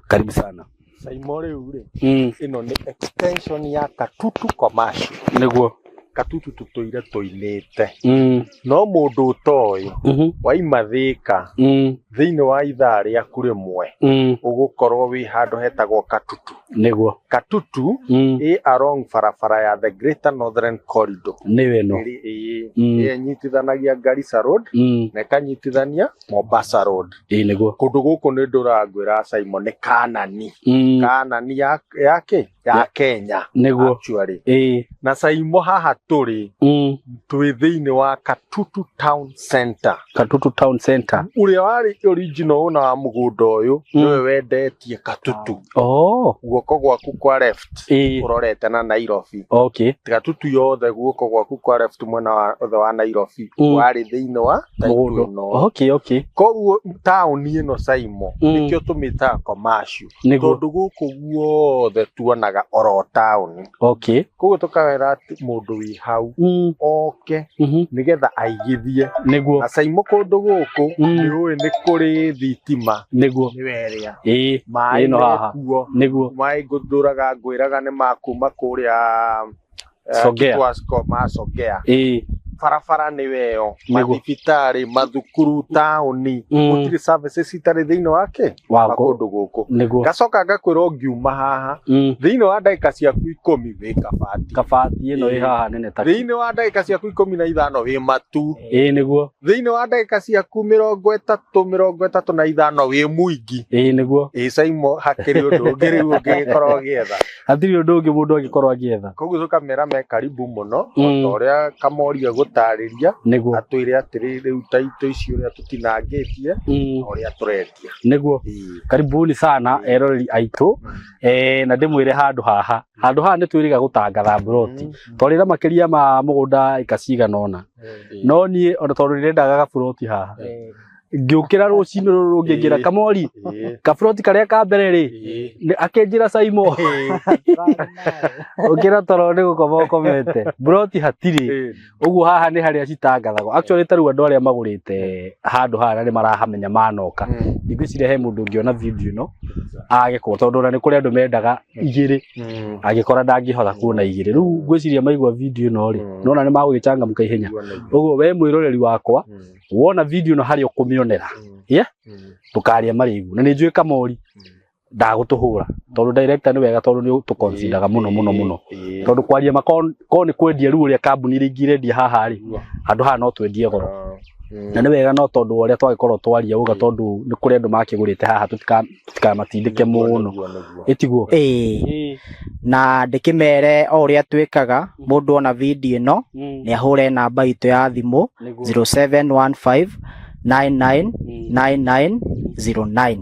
karibu sana Saimo rĩu rĩ mm. ĩno nĩ extension ya katutu commercial nĩguo katutu tũtũire tũinĩte mm. no mũndũ ũtoĩ mhm, waima thĩka mm. thĩinĩ wa ithaa rĩaku rĩmwe mm. ũgũkorwo wĩ handũ hetagwo katutu nĩguo katutu Mm, ĩ along barabara ya the greater northern corridor nĩwe no ĩrĩ ĩĩ Mm. ĩrĩa ĩnyitithanagia garissa road Mm, na ĩkanyitithania mombasa road ĩĩ nĩguo kũndũ gũkũ nĩ ndũrangwĩra simon nĩ kanani Mm, kanani ya ya kĩ ya Ya- kenya nĩguo actually ĩĩ na saimo haha tũrĩ Mm, twĩ thĩinĩ wa katutu town center katutu town center ũrĩa warĩ original ũna wa mũgũnda ũyũ Mm. nĩwe wendetie katutu Oh, guoko gwaku kwa left eh, urorete na Nairobi okay. tiga tutu yothe guoko gwaku kwa left mwena wa othe wa Nairobi Mm. warĩ thĩinĩ wa Mũgũndũ. taitũ ĩno Okay, okay. koguo taũni ĩno Saimo Mm. nĩkĩo tũmĩtaga commercial Nĩguo. tondũ gũkũ guothe tuonaga oro taũni okay koguo tũkawera atĩ mũndũ wĩ hau mm. oke mhm. nĩgetha aigithie nĩguo na caimũ kũndũ gũkũ Mm. nĩ ũĩ nĩ kũrĩ thitima nĩguo nĩ werĩa ĩĩ maĩ Ĩno haha. mekuo nĩguo maĩ ngũthũraga ngwĩraga nĩ makuma kũrĩa eh, Songea. Kitwasko, ma Songea ĩĩ barabara nĩ weyo Nĩguo. mathibitarĩ mathukuru taũni Mm. gũtirĩ services citarĩ thĩinĩ wake wa wa kũndũ gũkũ nĩguo ngacoka ngakwĩra ũngiuma haha Mm, thĩinĩ wa ndagĩka ciaku ikũmi wĩ kabati kabati ĩno ĩ haha nene ta thĩinĩ wa ndagĩka ciaku ikũmi na ithano wĩ matu ĩĩ nĩguo thĩinĩ wa ndagĩka ciaku mĩrongo ĩtatũ mĩrongo ĩtatũ na ithano wĩ mũingi ĩĩ nĩguo ĩcaimo hakĩrĩ ũndũ ũngĩ rĩu ũngĩgĩkorwo ũgĩetha hatirĩ ũndũ ũngĩ mũndũ angĩkorwo agĩetha koguo so kamera me karibu mũno Mm. ota ũrĩa kamoria gũtarĩria nĩguo atwĩre atĩrĩ rĩu ta itũ ici ũrĩa tũtinangĩtie Mm, na ũrĩa tũrendia nĩguo Ii. karibuni sana eroreri aitũ eh, na ndĩmwĩre handũ haha handũ haha nĩ twĩrĩga gũtangatha mburoti Mm. twarĩra makĩria ma mũgũnda ĩka cigana ũna Ii. no niĩ ona tondũ nĩrendaga gaburoti haha Ii. ngĩũkĩra rũcinĩ rũrũ rũngĩ ngĩra Ĩĩ. kamori Ĩĩ, kaburoti karĩa ka mbere rĩ ĩĩ. nĩ- akĩnjĩra caimo ũkĩra toro nĩ gũkoma ũkomete buroti hatirĩ Ĩĩ. ũguo haha nĩ harĩa citangathagwo actually tarĩu andũ arĩa magũrĩte handũ haha na nĩ marahamenya manoka Mm. ndigwĩciria he mũndũ ũngĩona video ĩno age kũgũra tondũ ona nĩ kũrĩ andũ mendaga igĩrĩ Mm. angĩkora ndangĩhota kuona igĩrĩ rĩu ngwĩciria maigua video ĩno rĩ Mm. nona nĩ magũgĩcangamka ihenya Kuona igũrũ. ũguo we mwĩroreri wakwa Mm. wona video no hari ukumionera Mm. Yeah? Mm. tukaria marigu na ni njui kamori Mm. ndagutuhura tondu director ni wega tondu ni tukonsidaga muno muno muno Eh, tondu kwaria makon ko ni kwendia riu uria kambuni ringi rendia haha ri Igua. handu haha no twendie goro Ah. Mm. na nĩ wega no tondũ wa ũrĩa twagĩkorwo twaria ũga tondũ nĩ kũrĩ andũ makĩgũrĩte haha tũtika ndikamatindĩke mũno Nĩguo, nĩguo. ĩtiguo ĩĩ Ĩĩ, na ndĩkĩmere o ũrĩa twĩkaga mũndũ ona video ĩno mm, nĩ ahũre namba itũ ya thimũ nĩguo. 0715 99 Mm, 9909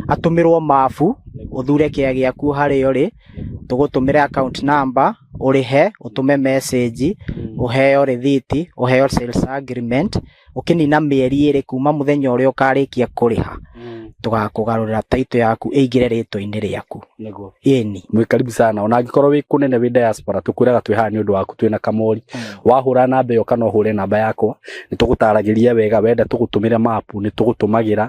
atũmĩrwo mabu nĩguo, ũthure kĩa gĩaku harĩa ũrĩ nĩguo. tũgũtũmĩre account number ũrĩhe ũtũme message Mm, ũheo rĩthiti ũheo sales agreement ũkĩnina mĩeri ĩrĩ kuma mũthenya ũrĩa ũkarĩkia kũrĩha tũgakũgarũrĩra taito yaku ĩingĩre rĩtwa-inĩ rĩaku nĩguo ĩni mwĩ karibu sana ona angĩkorwo wĩ kũnene wĩ diaspora tũkwĩraga twĩ haha nĩ ũndũ waku twĩna kamori wahũra namba ĩyo kana ũhũre namba yakwa nĩ tũgũtaragĩria wega wenda tũgũtũmĩre mapu nĩ tũgũtũmagĩra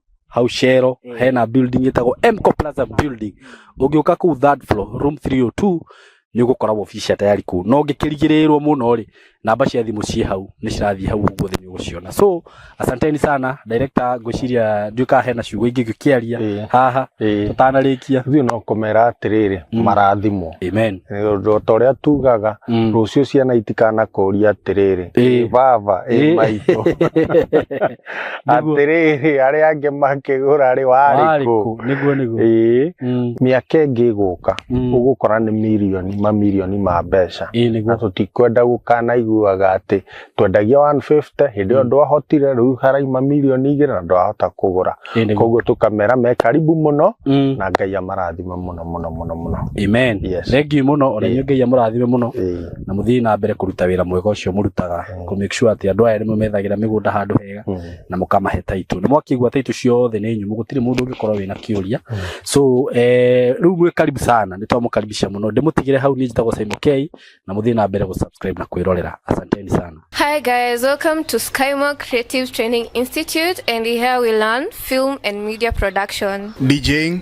hau shero Mm. hena building ĩtagwo mco plaza building ũngĩũka kũu third floor room 302 nĩ ũgũkora wobici tayari kũu no ngĩkĩrigĩrĩrwo mũno rĩ namba cia thimũ ciĩ hau nĩ cirathiĩ hau ũguo thĩ nĩ ũgũciona so asanteni sana director ngwĩciria ndiũĩ kana hena ciugo ingĩ ngĩkĩaria Ĩĩ. haha Ĩĩ. tũtanarĩkia ithuĩ no kũmera atĩrĩrĩ Mm. marathimwo amen Nĩ ta ũrĩa tugaga Mm. rũciũ ciana itikanakoria atĩrĩrĩ Ĩĩ. "Ĩĩ baba ĩĩ Ĩĩ. maitũ Nĩguo- atĩrĩrĩ arĩa angĩ makĩgũra rĩ warĩ warĩ kũ kũ? nĩguo nĩguo ĩĩ Mm, mĩaka ĩngĩ ĩgũka mm. ũgũkora nĩ mirioni mamirioni ma mbeca Ĩĩ, na nĩguo tũtikwenda gũkanaiguaga atĩ twendagia 150 hĩndĩ ĩyo Mm. ndwahotire rĩu haraima mirioni igĩrĩ na ndwahota kũgũra Ĩĩ, nĩguo koguo tũkamera me karibu mũno Mm, na ngai amarathima mũno mũno mũno mũno amen Yes. thengiũ mũno ona Ĩĩ. inyuĩ ngai amũrathime mũno Ĩĩ. na mũthiĩ na mbere kũruta wĩra mwega ũcio mũrutaga kũ make sure atĩ andũ aya nĩ mũmethagĩra mĩgũnda handũ hega na mũkamahe taitũ nĩ mwakĩigua taitũ ciothe nĩ nyũmũ gũtirĩ mũndũ ũngĩkorwo wĩna kĩũria so eh, rĩu mwĩ karibu sana nĩ twamũkaribisha mũno ndĩmũtigĩre hau niĩ njĩtagwo Simon K na mũthiĩ na mbere gũ subscribe na kwĩrorera asanteni sana Hi guys, welcome to Skymore Creative Training Institute and here we learn film and media production. DJing,